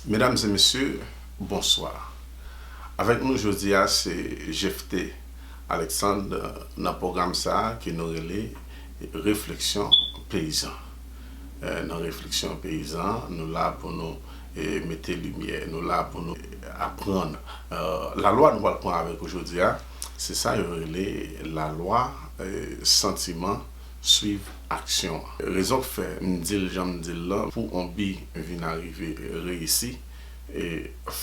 Medam e mesye, bonswa. Avèk nou jodi a se Jephté Alexandre nan pwogram sa ke nou rele Refleksyon Peyizan. Nan Refleksyon Peyizan, nou la pou nou mete limyè, nou la pou nou aprann. Lalwa nou pral pran avèk ou jodi a, se sa yo rele lalwa santiman. swiv aksyon an. Rezon k fè m di l jan m di l lan, pou on bi vin arive, reyisi,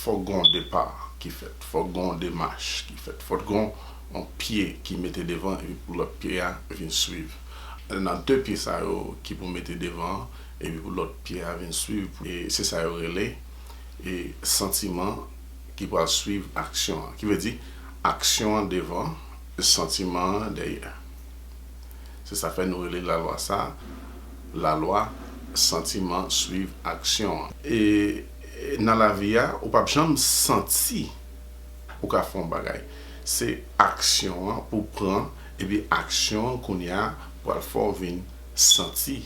fòk gen on depa ki fèt, fòk gen on demach ki fèt, fòk gen on pye ki mete devan epi pou lòt pye a vin swiv. Nan de pye sa yo ki pou mete devan an epi pou lòt pye a vin swiv, se sa yo rele santiman ki pral swiv aksyon an. Ki vle di, aksyon an devan, santiman an dèyè. Se sa fè nou rele lalwa sa a lalwa santiman swiv aksyon an. E nan lavi a, ou pap janm santi ou ka fè yon bagay. Se aksyon an pou w pran epi aksyon an kounye a pral fè w vin santi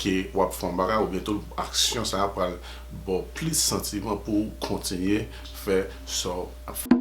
ke w ap fè yon bagay oubyen tou aksyon sa a pral ba w plis santiman pou w kontinye fè sa w ap fè.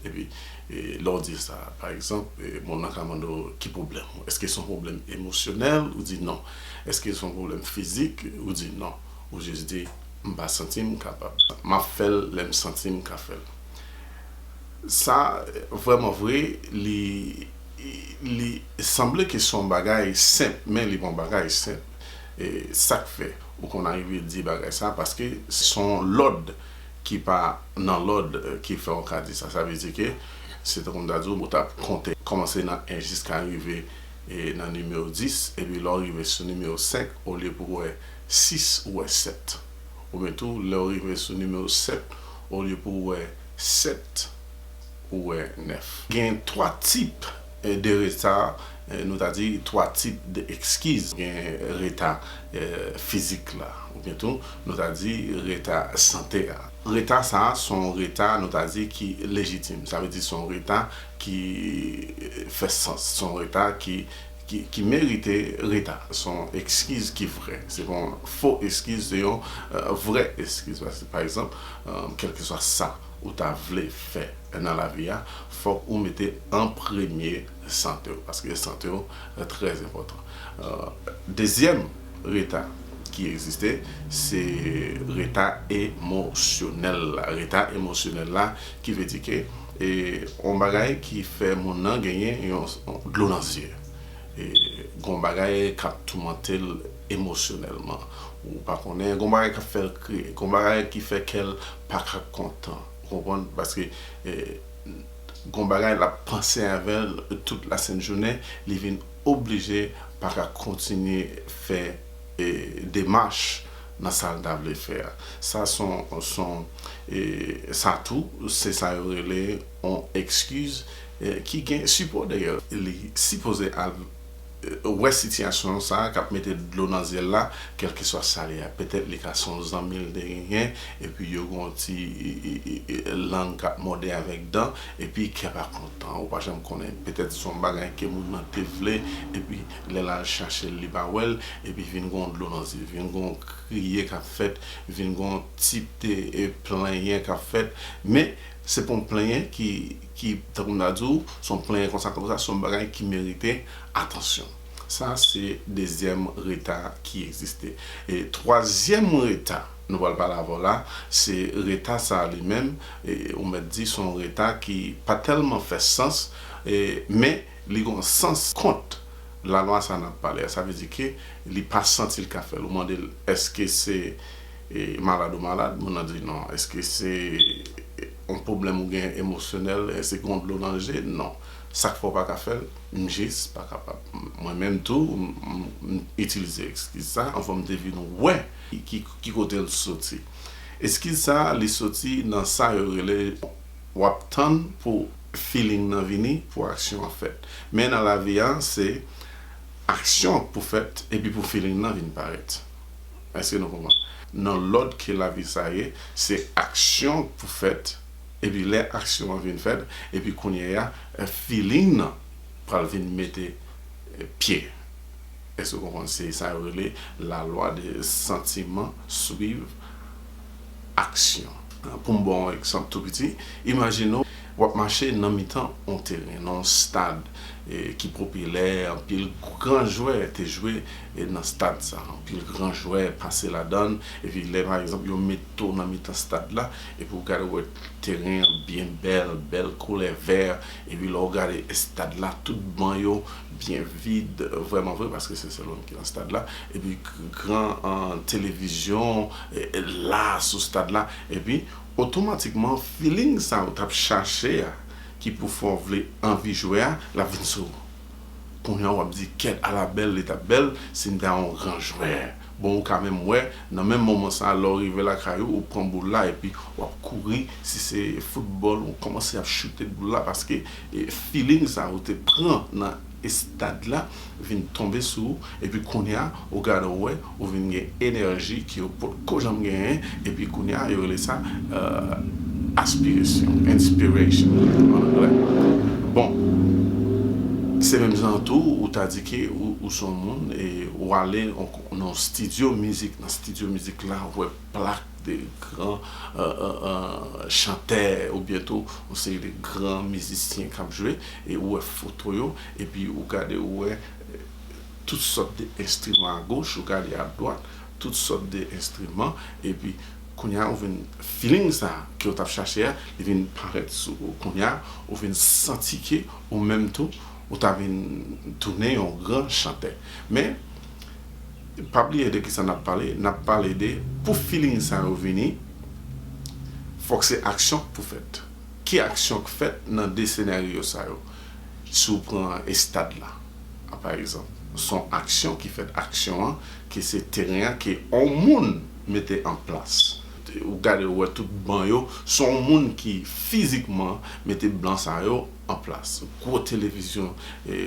Epi lè w di sa, pa egzanp, moun nan ka mande w ki pwoblèm ou? Èske se yon pwoblèm emosyonèl? Ou di non. Èske se yon pwoblèm fizik? Ou di non. Ou jis di, M pa santi m kapab. M ap fè l lè m santi m ka fè l. Sa, vrèman vre, li sanble ke se yon bagay senp, men li pa yon bagay senp. Sa k fè ou konn arive di bagay sa a? Paske se yon lòd ki pa nan lòd ki fè w ka di sa. Sa vle di ke se tankou m ta di w ou t ap konte, kòmanse nan 1 jiska rive nan nimewo 10, epi lè w rive sou nimewo 5, olye pou w wè 6, ou wè 7. Oubyen tou, lè w rive sou nimewo 7, olye pou w wè 7, ou wè 9. Gen 3 tip De reta, nou ta di twa tip de ekskiz. Gen reta fizik la. Ou byen tou, nou ta di reta sante a. Reta sa a, son reta nou ta di ki lejitim. Sa vle di son reta ki fè sans. Son reta ki merite reta. Son ekskiz ki vrè. Se pa yon fo ekskiz, se yon vrè ekskiz. Pa ekzanp, kèlkeswa sa. ou ta vle fè nan lavi a fòk ou mete an premye sante w paske sante w trè enpòtan dezyèm reta ki egziste se reta emosyonèl la reta emosyonèl la ki vle di ke e yon bagay ki fè moun nan genyen yon dlo nan zye e gon bagay k ap toumante l emosyonèlman ou pa konnen gon bagay k ap fè l kriye gon bagay ki fè kè l paka kontan ou konprann paske gon bagay lap panse avèl tout la sent jounen li vin oblije paka kontinye fè demach nan sal ta vle fè a sa son sa tou se sa yo rele on ekskiz ki gen sipò dèyèl li sipoze al wè sitiyasyon sa kap mete dlo nan zyel la kelkeswa sa li a petèt li ka son zanmi li te genyen epi yo gen yon ti lang kap mòde avèk dan epi kè pa kontan ou pa janm konnen petèt son bagay ke moun nan te vle epi lèl al chachel li pa wèl epi vin gen yon dlo nan zye vin gen yon kriye kap fèt vin gen yon ti plenyen kap fèt men se pa yon plenyen ki ki tankou m ta di w se yon plenyen konsa tankou sa se yon bagay ki merite atansyon. Sa se dezyèm reta ki egziste. E twazyèm reta nou pral pale avè w la, se reta sa a li menm ou mèt di se yon reta ki pa tèlman fè sans men li gen yon sans kont lalwa sa a n ap pale a. Sa vle di ke li pa santi l ka fè l. Ou mande l èske se malad ou malad, moun nan di non, èske se. On pwoblèm ou gen emosyonèl èske gon dlo nan je? Non. Sak fè w pa ka fèl? M jis pa kapab. Mwen menm tou m itilize ekskiz sa anvan m te vin wè ki kote l soti. Eskiz sa li soti nan sa yo rele w ap tann pou feeling nan vini pou aksyon an fèt. Men nan lavi a se aksyon pou fèt epi pou feeling nan vin parèt. Èske nou konprann? Nan lòd ke lavi sa ye, se aksyon pou fèt, epi lè aksyon an vin fèt, epi kounyeya feeling nan pral vin mete pye. Èske ou konprann? Se sa yo rele la lwa de santiman swiv aksyon. Pou m ba w yon egzanp tou piti, imajine w ap mache nan mitan yon teren, nan yon stad ki popilè, anpil gran jwè te jwe e nan stad sa anpil gran jwè pase ladann epi lè pa egzanp yo met to nan mitan stad la epi ou gade ou wè teren an byen bèl bèl koulè vè epi lè ou gade estad la tout ban yo byen vid vrèman vre paske se sèl ou menm ki nan stad la epi gran televizyon la sou stad la epi otomatikman filing sa ou tap chache a ki pou fè w vle anvi jwe a lap vin sou ou. Kounya wap di kèt ala bèl li tap bèl sim ta yon gran jwè bon ou ka menm wè nan menm moman sa lè ou rive lakay ou ou pran boul la epi wap kouri si se foutbòl ou kòmanse ap choute boul la paske filing sa ou te pran nan estad la vin tonbe sou ou epi kounya ou gade ou wè ou vin gen enèji ke ou pot ko janm genyen epi kounye a yo rele sa aspiresyon, inspiration an anglè. Bon, se menm jan an tou ou ta di ke ou se yon moun e ou ale nan yon stidyo mizik, nan stidyo mizik la ou wè plak de gran chantè oubyen tou yon seri de gran mizisyen k ap jwe e ou wè foto yo epi ou gade ou wè Tout sòt de enstriman a goch ou gade a dwat, tout sòt de enstriman epi kounye a ou vin feeling sa ke ou tap chache a li vin parèt sou ou kounye a ou vin santi ke ou menm tou ou ta vin tounen yon gran chantè men pa bliye de kisa nap pale nap pale de pou feeling sa yo vini fòk se aksyon k pou fèt ki aksyon k fèt nan 2 senaryo sa yo. Si w pran estad la a pa egzanp, s on aksyon ki fèt, aksyon an ke se teren an ke on moun mete an plas. Ou gade ou wè tout ban yo, s on moun ki fizikman mete ban sa yo an plas. Gwo televizyon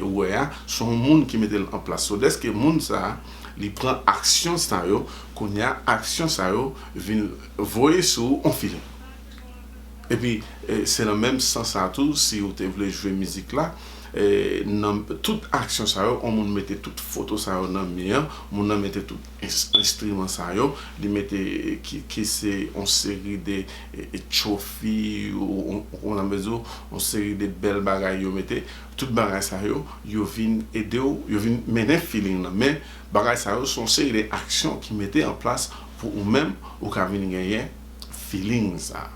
ou wè a, s on moun ki mete l an plas. So dèske moun sa a li pran aksyon sa yo, kounye a aksyon sa yo vin voye sou ou on filin. Epi se nan menm sans sa tou si ou te vle jwe mizik la nan tout aksyon sa yo on moun mete tout foto sa yo nan mi an moun nan mete tout enstriman sa yo li mete ki se on seri de tchofi ou nan mezi on seri de bèl bagay yo mete tout bagay sa yo yo vin ede w yo vin mennen feeling nan men bagay sa yo son seri de aksyon ki mete an plas pou ou menm ou ka vin genyen feeling sa.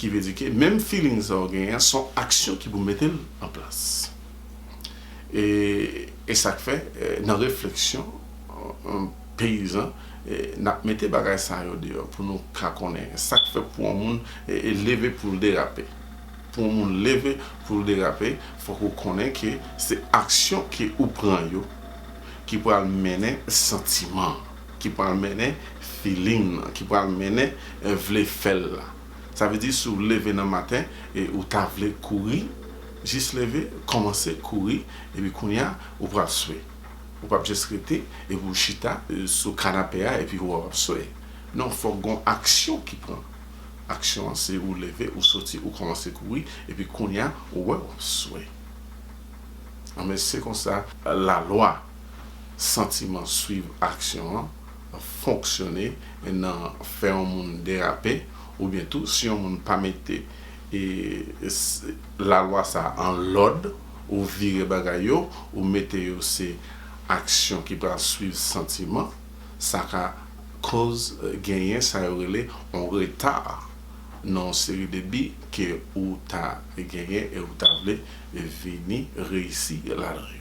Ki vle di ke menm feeling sa ou genyen an son aksyon ki pou mete l an plas. E e sak fè nan refleksyon peyizan nap mete bagay sa yo deyò pou nou ka konnen sak fè pou yon moun leve pou l derape. Pou yon moun leve pou l derape fòk ou konnen ke se aksyon ke ou pran yo ki pral mennen santiman. ki pral mennen feeling lan ki pral mennen vle fèl la sa vle di si w leve nan maten e ou ta vle kouri jis leve kòmanse kouri epi kounya ou pral swe ou pap jis rete epi w chita sou kanape a epi wap ap swe non fòk gon aksyon ki pran aksyon an se ou leve ou soti ou kòmanse kouri epi kounya ou wè wap swe anben se konsa lalwa. santiman swiv aksyon an fonksyone nan fè yon moun derape oubyen tou si yon moun pa mete lalwa sa an lòd ou vire bagay yo ou mete yo se aksyon ki pral swiv santiman sa ka koz genyen sa yo rele yon reta nan yon seri de bi ke ou ta genyen e ou ta vle vini reyisi ladan yo.